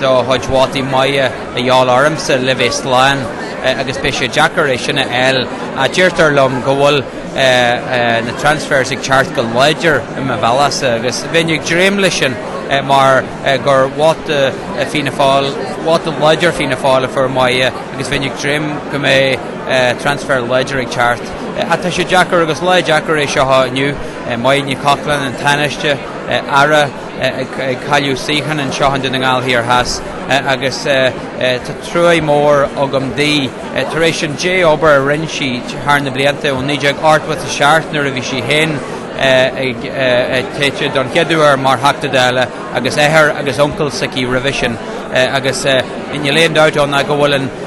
de chuid vótaí Mary a dhíobháil ormsa le bheith slán agus beidh sé deacair é sin a fháil ach deirtear liom go bhfuil na transfers ag teacht go láidir i mo bhealach-sa agus bheinn ag dréim leis sin mar gur vóta Fianna Fáil, vóta láidir Fianna Fáil a fuair Mary agus bheinn ag dréim go mbeidh transfer láidir ag teacht ach tá sé deacair agus lá deacair é seo inniu. Máire Ní Chochláin, an Tánaiste, Aire. ag cailleadh suíocháin anseo i nDún na nGall Thiar Theas agus tá trua mór agam di tar éis an dea-obair a rinne sí thar na blianta ó 1987 nuair a bhí sí féin toghta don chéad uair mar Theachta Dála agus athair agus uncail s'aici roimhe sin agus níl aon dabht ann ná go bhfuil an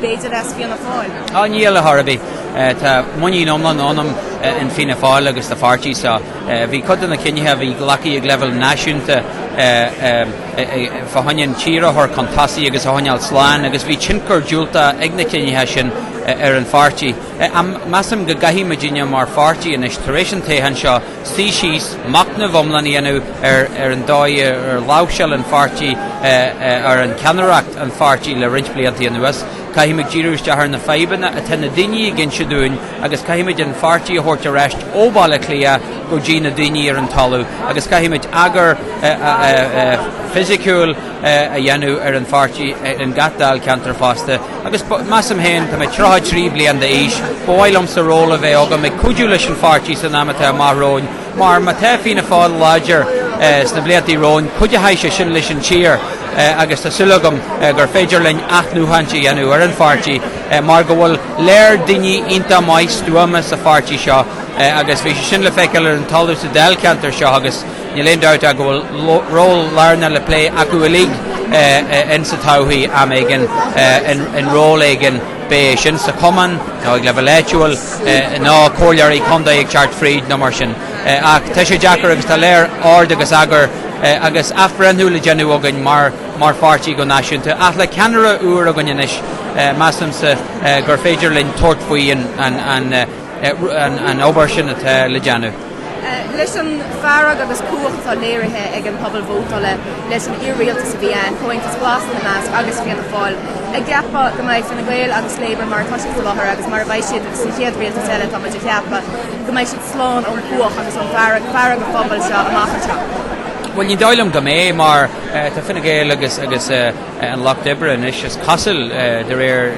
b'fhéidir as Fianna Fáil? Á níl ar chor ar bith, tá muinín iomlán ionam in Fianna Fáil agus sa pháirtí seo. Bhí cuid de na cinnithe a bhí glactha ag leibhéal náisiúnta fá choinne an tír a chur chun tosaigh agus a choinneáil slán agus bhí tionchar diúltach ag na cinnithe sin ar an pháirtí. Ach measaim go gcaithfidh muidinne mar pháirtí anois tar éis an toghcháin seo, suí síos, machnamh iomlán a dhéanamh ar ar an dóigh ar láimhseáil an pháirtí ar an cheannaireacht an pháirtí le roinnt blianta anuas. Caithfimid díriú isteach ar na fadhbanna atá na daoine ag inse dúinn agus caithfimid an pháirtí a thabhairt ar ais ó Bhaile Átha Cliath go dtí na daoine ar an talamh agus caithfimid eagar fisiciúil a dhéanamh ar an pháirtí in gach dáilcheantar fosta. Agus measaim féin, tá mé 33 bliain d'aois, ba mhaith liomsa ról a bheith agam ag cuidiú leis an pháirtí san am atá amach romhainn, mar má tá Fianna Fáil láidir sna blianta romhainn, cuideoidh sé sin leis an tír agus tá súil agam gur féidir linn athnuachaint a dhéanamh ar an pháirtí mar go bhfuil léar daoine iontach maith stuama sa pháirtí seo agus bhí sé sin le feiceáil ar an talamh sa Dáilcheantar seo agus Níl aon dabht ach go bhfuil ról lárnach le plé acu uilig insa todhchaí, am éigin, in ról éigin, b'é sin sa chumann nó ag leibhéal áitiúil, ná comhairleoirí contae ag teacht fríd nó mar sin. Ach tá sé deacair agus tá léar ord agus eagar agus athbhreithniú le déanamh againn mar pháirtí go náisiúnta. Ach le ceannaire úr againn anois, measaimse gur féidir linn tabhairt faoi an an obair sin atá le déanamh. Leis an bhfearg agus cuthach atá léirithe ag an pobal vótála leis an iar-rialtas a bhí ann, Comhaontas Glas ina measc, agus Fianna Fáil, an gceapfá go mbeidh Fine Gael agus Labour mar atá siad sa láthair agus mar a bheidh siad san chéad rialtas eile tá muid a cheapadh go mbeidh siad slán ón gcuthach agus ó fhearg an phobail seo amach anseo. Bhuel ní dóigh liom go mbeidh mar tá Fine Gael agus An Lucht Oibre anois is cosúil de réir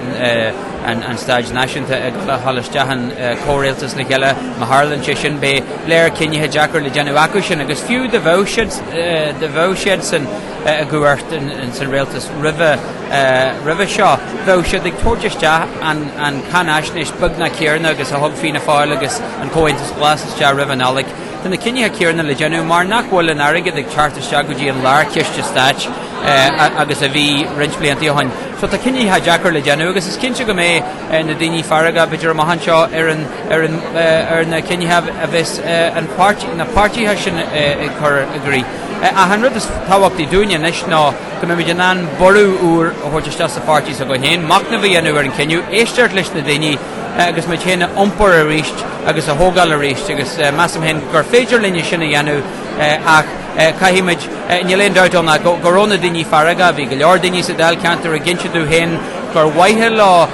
an staid náisiúnta ag gabháil isteach in comhrialtas le cheile má tharlann sé sin. Beidh lear cinnithe deacair le déanamh acu sin agus fiú dá bheadh siadsan i gcumhacht san rialtas roimhe seo bheadh siad ag tabhairt isteach an cáinaisnéis beagnach céarna agus a thug Fianna Fáil agus an Comhaontas Glas isteach roimh an Nollaig. Tá na cinnithe céarna le déanamh mar nach bhfuil an airgead ag teacht isteach go dtí an lár ciste stáit agus a bhí roinnt blianta ó shoin. So tá cinnithe deacair le déanamh agus is cinnte go mbeidh na daoine feargach b'fhéidir amach anseo ar na cinnithe a bheas na páirtithe sin ag cur i gcrích. Ach an rud is tábhachtaí dúinne anois ná go mbeimid in ann borradh úr a thabhairt isteach sa pháirtí s'againn féin, machnamh a dhéanamh ar an cinneadh, éisteacht leis na daoine, agus muid féin a iompar arís agus a thógáil arís agus measaim féin gur féidir linn é sin a dhéanamh ach caithfimid, níl aon dabht ann ná go raibh na daoine feargach, bhí go leor daoine sa Dáilcheantar ag insint domh féin gur mhaith leo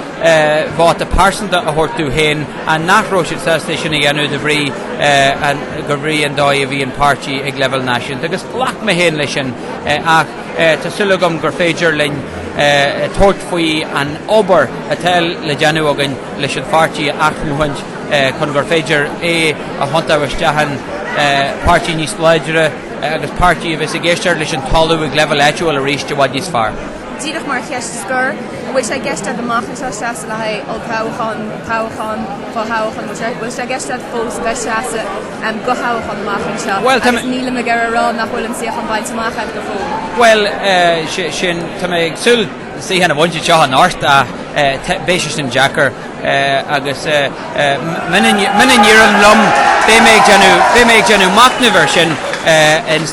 vóta pearsanta a thabhairt domh féin ach nach raibh siad sásta é sin a dhéanamh de bhrí an dóigh a bhí an páirtí ag leibhéal náisiúnta agus ghlac mé féin leis sin ach Tá súil agam gur féidir linn tabhairt faoi an obair atá le déanamh againn leis an pháirtí a athnuachaint chun gur féidir é a thiontú isteach in páirtí níos láidre agus páirtí a bheas ag éisteacht leis an talamh ag leibhéal áitiúil arís i bhfad níos fearr. Díreach mar cheist scoir, an bhfuil sé i gceist agat amach anseo a sheasamh le haghaidh olltoghchán, toghchán, fothoghchán, whatever, an bhfuil sé i gceist agat fós a bheith ag seasamh? do thoghchán amach anseo agus nílim ag iarraidh a rá nach bhfuil an suíochán bainte amach agat go fóill. Bhuel, sin, tá mé ag súil suíochán a bhaint anseo anocht ach beidh sé sin deacair agus muna n-éiríonn liom beidh mé ag déanamh, beidh mé ag déanamh machnaimh air sin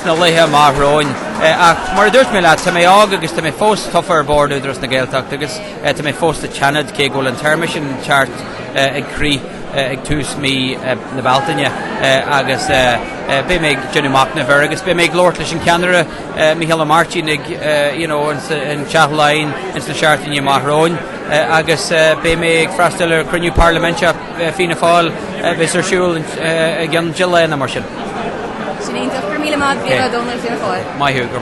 sna laethe amach romhainn ach mar a dúirt mé leat tá mé óg agus tá mé fós tofa ar bhord Údarás na Gaeltachta agus Tá mé fós sa tSeanad cé go bhfuil an téarma sin ag teacht ag críoch ag tús mhí na Bealtaine agus beidh mé ag déanamh machnaimh air agus beidh mé ag labhairt leis an ceannaire Micheál Ó Máirtín you know ins an Teach Laighean ins na seachtainí amach romhainn agus beidh mé ag freastal ar cruinniú parlaiminteach Fianna Fáil a bheas ar siúl i gceann dhá lá nó mar sin. Sin iontach. Go raibh míle maith agat, Brian Ó Domhnaill, Fianna Fáil. Maith thú. Go raibh maith agat.